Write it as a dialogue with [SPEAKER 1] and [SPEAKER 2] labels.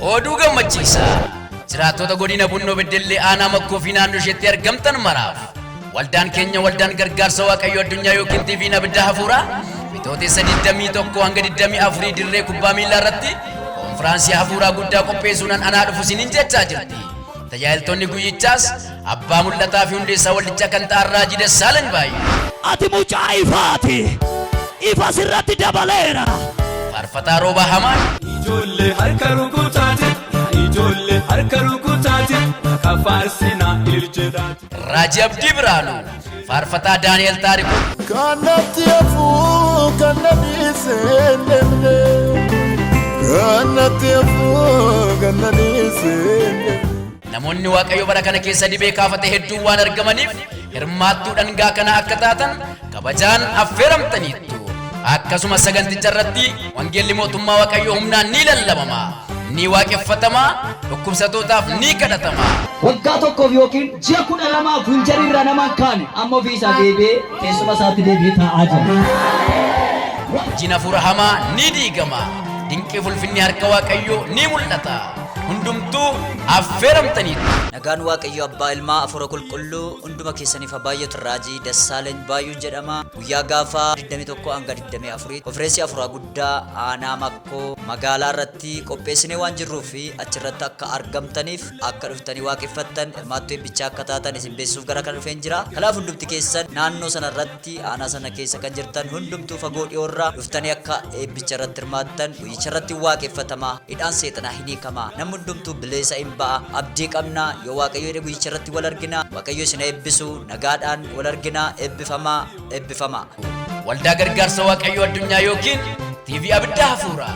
[SPEAKER 1] Oduu gammachiisaa! Jiraattota godina Bunnoo Beddellee aanaa Makkoo fi naannoo isheetti argamtan maraaf waldaan keenya waldaan gargaarsa waaqayyo addunyaa yookiin TV'n abidda hafuuraa bitootessa 21 hanga 24 dirree kubbaa miilaa irratti konfiraansii hafuuraa guddaa qopheessuunan anaa dhufu isiniin jechaa jirti. Tajaajiltoonni guyyichaas abbaa mul'ataa fi hundeessaa waldichaa kan ta'an Raajii Dassaalany baay'ee. Ati mucaa
[SPEAKER 2] ifaati, ifa sirratti dabaleera. Faarfataa
[SPEAKER 1] Roobaa Hamaan. Ijoollee harka
[SPEAKER 3] rukutaati, yaa ijoollee harka rukutaati, maqaa faarsinaa il jedhaati. Raajii Abdii
[SPEAKER 1] Birhaanuu. Faarfataa Daani'el Taarikuu. Kan natti
[SPEAKER 4] hafuu kan na dhiise hin deemne. Kan natti hafuu kan na dhiise hin deemne. Namoonni
[SPEAKER 1] Waaqayyo bara kana keessa dibee kaafate hedduun waan argamaniif hirmaattuu dhangaa kana akka taatan kabajaan affeeramtaniittu. Akkasuma saganticha irratti wangeelli mootummaa Waaqayyoo humnaan ni lallabama, ni waaqeffatama, dhukkubsatootaaf ni kadhatama. Waggaa tokkoof
[SPEAKER 5] yookiin ji'a kudha lamaaf winjarii irraa nama hin kaane amma ofii isaa deebi'ee teessuma isaatti deebi'ee taa'aa jira. Hojiin hafuura
[SPEAKER 1] hamaa ni diigama, dinqii fulfinni harka Waaqayyoo ni mul'ata. Hundumtuu affeeramtaniitu. Nagaan Waaqayyo
[SPEAKER 6] Abbaa Ilmaa Afuura Qulqulluu hunduma keessaniif haa baay'atu Raajii Dassaalany Baayuun jedhama. Guyyaa gaafa 21-24 konfireensii afuraa guddaa aanaa makkoo magaalaa irratti qopheessinee waan jirruu fi achirratti akka argamtaniif akka dhuftanii waaqeffattan hirmaattuu eebbichaa akka taatan isin beeksisuuf gara kana dhufeen jira. Kanaaf hundumti keessan naannoo sana irratti aanaa sana keessa kan jirtan hundumtuu fagoo dhiyoorraa dhuftanii akka eebbicha irratti hirmaattan guyyicha irratti waaqeffatamaa hidhaan seexanaa hin hiikamaa namni hundumtuu bileesa in ba'a abdii qabnaa yoo waaqayyo jedhe guyyicha irratti wal arginaa waaqayyo isin eebbisu nagaadhaan wal arginaa ebbifamaa
[SPEAKER 1] ebbifamaa. Waldaa Gargaarsa Waaqayyoo
[SPEAKER 6] Addunyaa
[SPEAKER 1] ykn TV Abidda Hafuuraa.